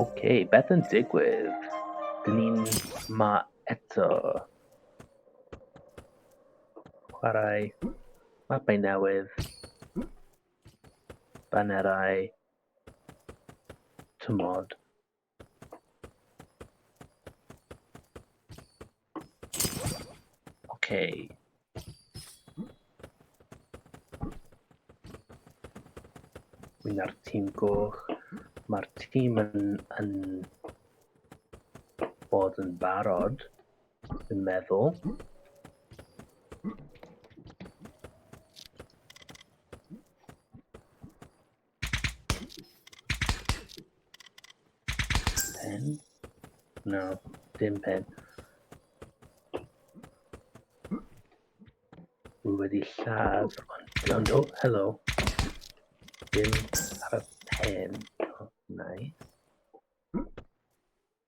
Ok, beth yn digwydd? Dyn ni'n ma eto. Chwarae mapau newydd. Banerau. Tymod. Okay. Wyna'r tîm goch. Mae'r tîm yn, yn bod yn barod, yn meddwl. Pen? No, dim pen. Wy wedi lladd, ond o, helo. Dim ar y pen. Oh, nice.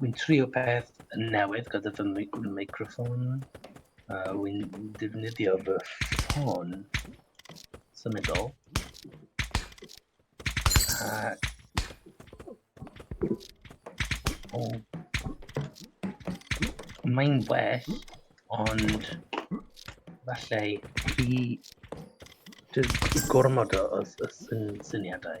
Wy'n trio peth newydd gyda fy microffon. Uh, Wy'n defnyddio fy ffôn symudol. Uh, oh. Mae'n well, ond falle i dy gormod o, o, o syn, syniadau.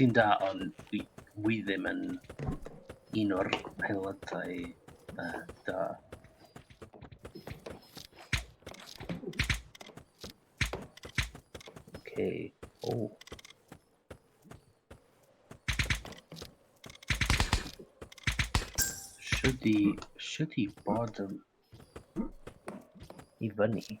Ti'n da, ond dwi, dwi ddim yn un o'r aelodau uh, da. Okay. Oh. Should he, should he bottom? Even he.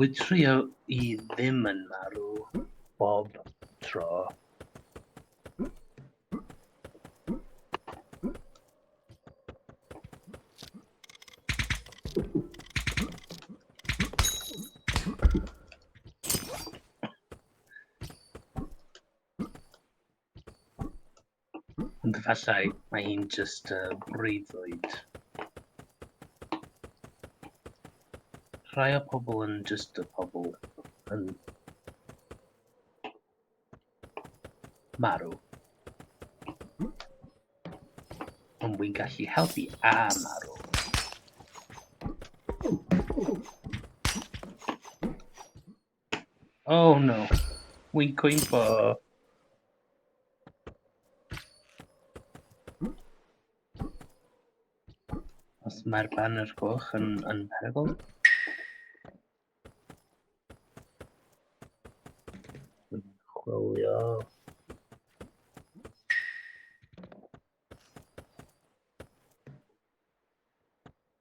Wyt trio i ddim yn marw bob tro. Ond efallai mae hi'n just uh, breuddwyd. Rhai o pobl yn just y pobl yn marw. Ond wy'n gallu helpu a marw. Oh no. Wy'n cwympo. Os mae'r banner goch yn, yn perygl. Chwilio.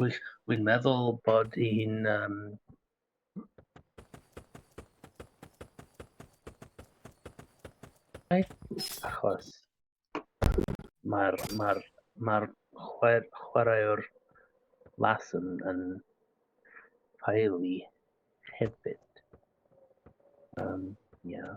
Gwych. Wi'n meddwl bod un... Um... Achos mae'r ma ma chwer, chwaraewr las yn, yn ffaelu hefyd. Um, yeah.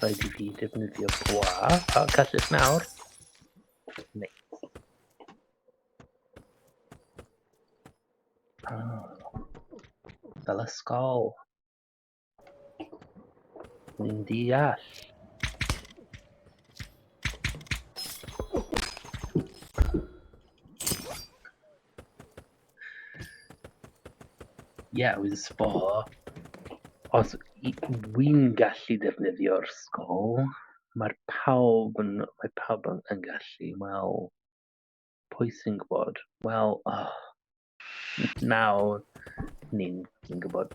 Rhaid i fi defnyddio gwa. A gallus nawr. Neu. Ah. Fel ysgol. Ni'n deall. Ie, oedd y sbo. Os wy'n gallu defnyddio'r sgol, mae'r pawb yn, mae pawb yn, yn gallu. Wel, pwy sy'n gwybod? Wel, oh, nawr ni'n ni gwybod.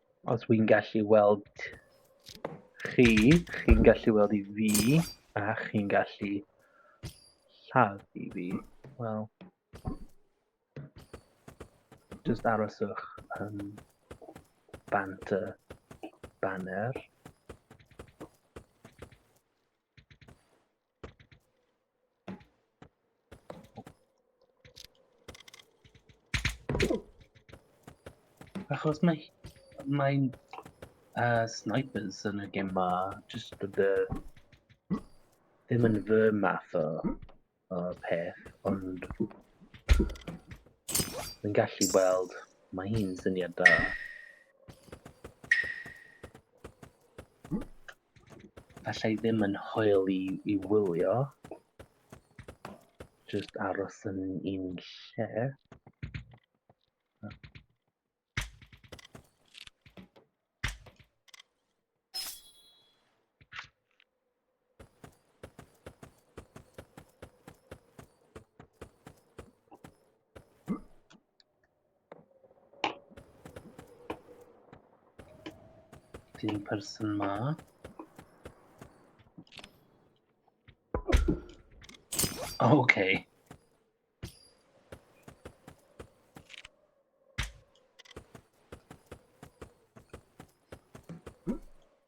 Os wy'n gallu weld chi, chi'n gallu weld i fi, a chi'n gallu lladd i fi. Wel, just aroswch yn bant y banner. Achos mae mae'n uh, snipers yn y gem ma, just bod y ddim yn fy math o, o peth, ond yn gallu weld, mae hi'n syniad da. Alla i ddim yn hwyl i, i wylio. Just aros yn un lle. Fi'n person ma. Okay.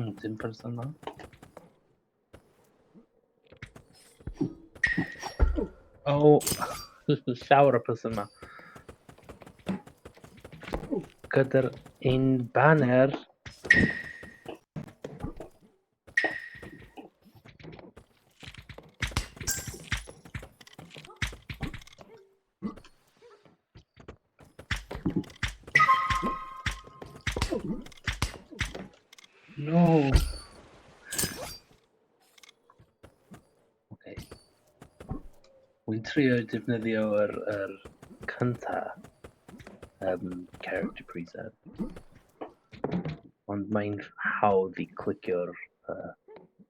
Hmm, dim person yma. Oh, llawer o person yma. Gyda'r un banner. No. Okay. Wy'n trio defnyddio yr, yr cynta um, character preset. Ond mae'n hawdd i clicio'r uh,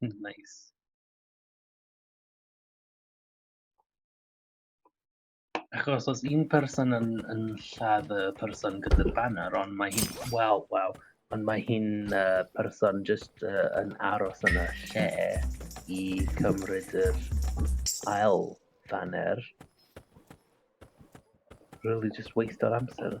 Nice. Achos os un person yn yn lladd y person gyda'r banner ond mae hi'n... Wel, wel, ond mae hi'n uh, person jyst uh, yn aros yn y lle i cymryd yr ail banner. Really just waste o'r amser.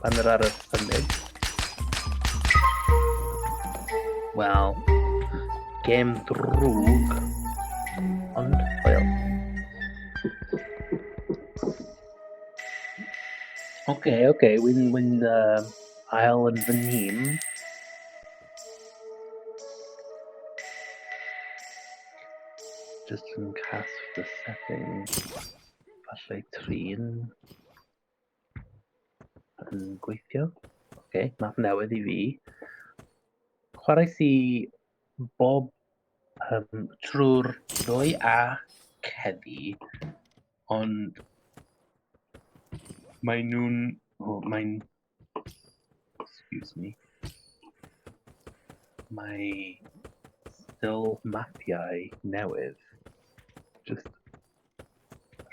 pan yr arall hynny. Wel, gêm drwg, ond hwyl. Oce, okay, oce, okay. wy'n wy uh, ail yn fy nhîm. Just yn cast the settings. Falle trin. Yn gweithio. Oce, okay, map newydd i fi. Chwarae si bob um, trwy'r ddwy a ceddi, ond mae nhw'n... Oh, mae'n... Excuse me. Mae still mapiau newydd. Just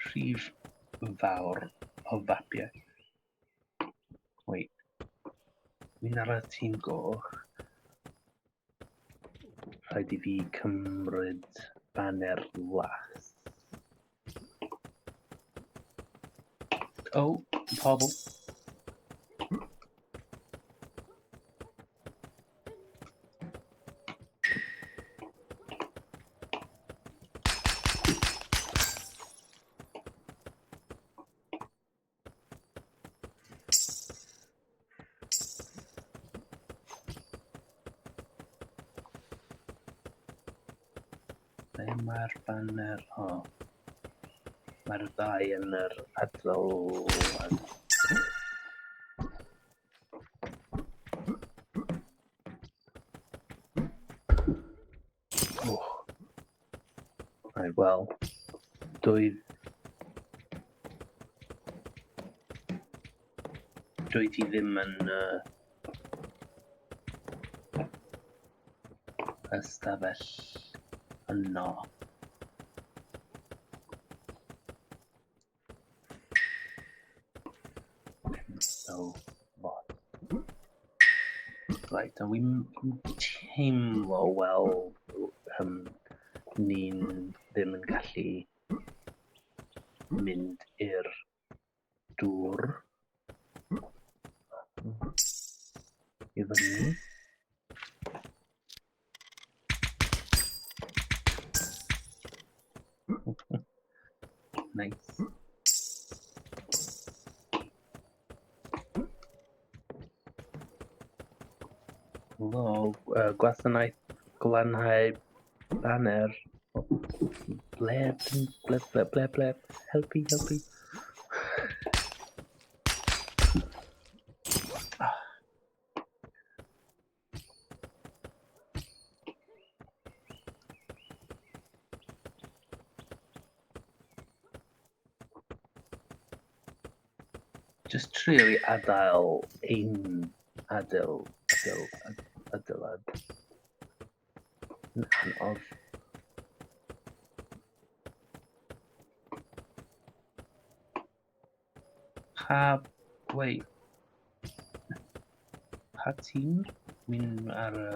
rhif fawr o fapiau. Wait. Mi'n ar y tîm goch. Rhaid i fi cymryd banner las. O, oh, pobl. mae'r banner o. Mae'r ddau yn yr adlon. well. Doedd... Doedd hi ddim yn... Uh, ystafell yno. So, what? Right, a wi'n teimlo, wel, um, ni'n ddim yn gallu mynd i'r dŵr i fyny. nice. Lol, uh, gwasanaeth glanhau banner. Ble, ble, ble, ble, ble, helpu, helpu. Just trio i adael ein adael, adael, adael, adael. Yn anodd. Pa... Wei... Pa tîm? Mi'n ar y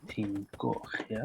tîm goch, ia?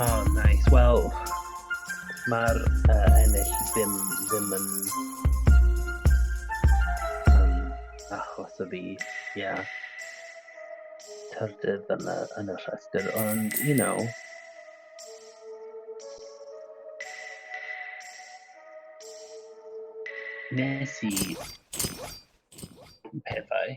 Oh, nice. Wel, mae'r uh, ennill ddim, ddim yn um, achos o fi, yeah. Tyrdydd yn y, yn y rhestr, ond, you know, nes i pethau.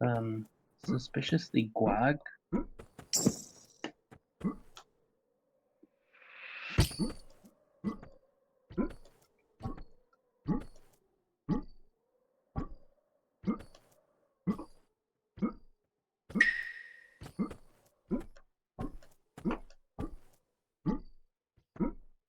Um, suspiciously gwag.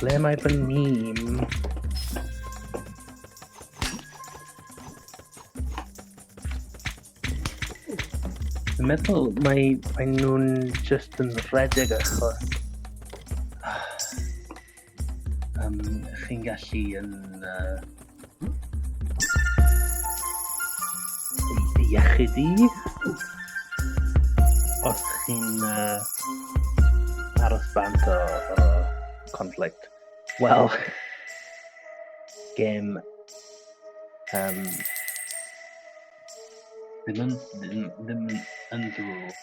Ble mae fy nhîm? Dwi'n meddwl mae, mae nhw'n just yn rhedeg achos... Um, chi'n gallu yn... Uh, iechyd i. Os chi'n uh, aros bant o, o conflict. Wel, gêm um, ddim yn, ddim, ddim yn ddrwg.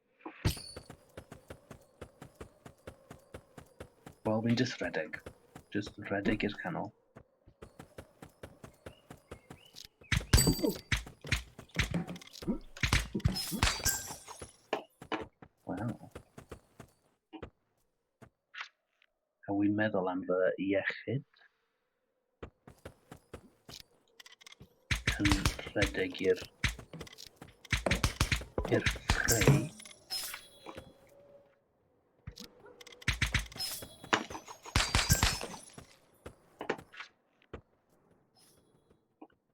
Wel, fi'n just rhedeg. Just rhedeg i'r canol. A wi'n meddwl am fy iechyd. Yn rhedeg i'r... i'r ffreu.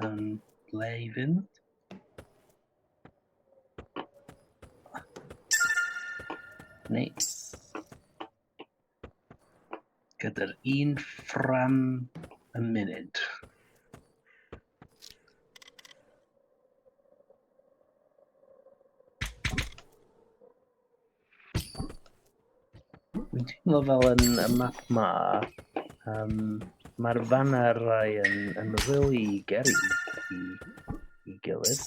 Um, Laven. Nice. Gyda'r un ffram y munud. Dwi'n teimlo fel yn y map ma, um, mae'r fanner rai yn, yn really geri i, i gilydd.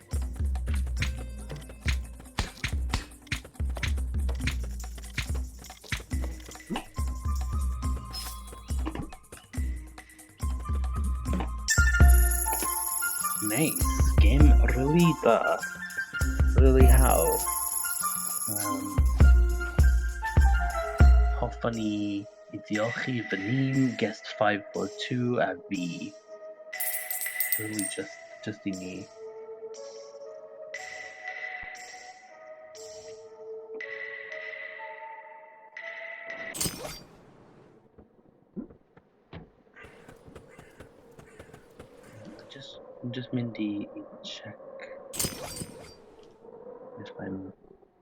Nice, game really da. Really hawdd. Um, hoffwn i i diolch i fy ni'n Guest 542 a fi. Rwy just, just i ni. Just, just mynd i, i check if I'm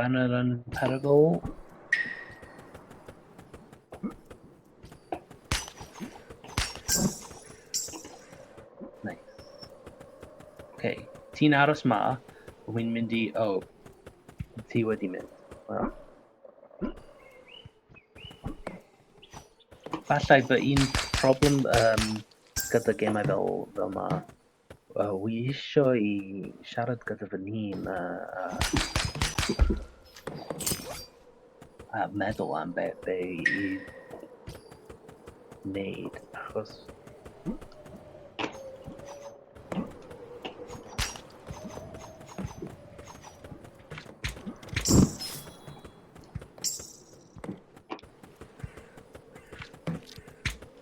banner yn perygl. Nice. Okay, ti'n aros ma, wy'n mynd i... Oh, ti wedi mynd. Well. Falle fy un problem um, gyda gemau fel, fel ma, uh, wy eisiau i siarad gyda fy hun a, a, a meddwl am be, be i wneud, achos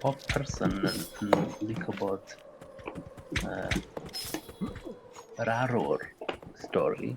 Pob person yn, yn licio bod uh, yr arwr stori.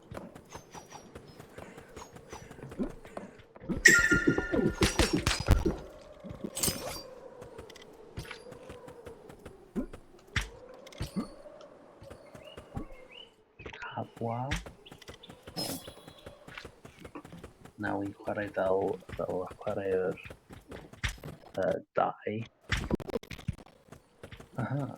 Wow. Now we chwarae fel, fel chwarae'r uh, dau. Aha.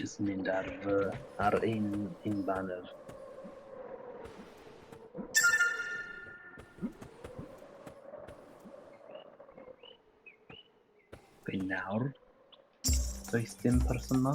Just mynd ar fy, ar un, un banner. Be nawr? Does dim person ma?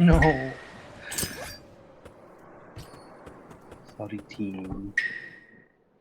No. Sorry team.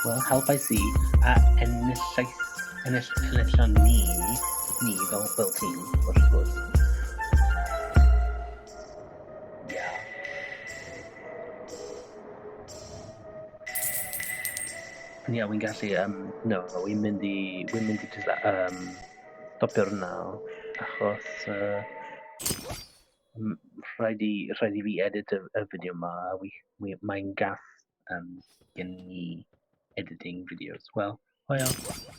Wel, helpais i a enillais, ennill, enillon ni, ni fel fel tîm, wrth gwrs. Ie, yeah, wi'n gallu, um, no, wi'n mynd i, wi'n mynd i just, um, stopio'r naw, achos, uh, Mm, Rhaid i, rhaid i fi edit y, y fideo ma, a wi, wi, mae'n gath um, gen i editing videos. Wel, hwyl.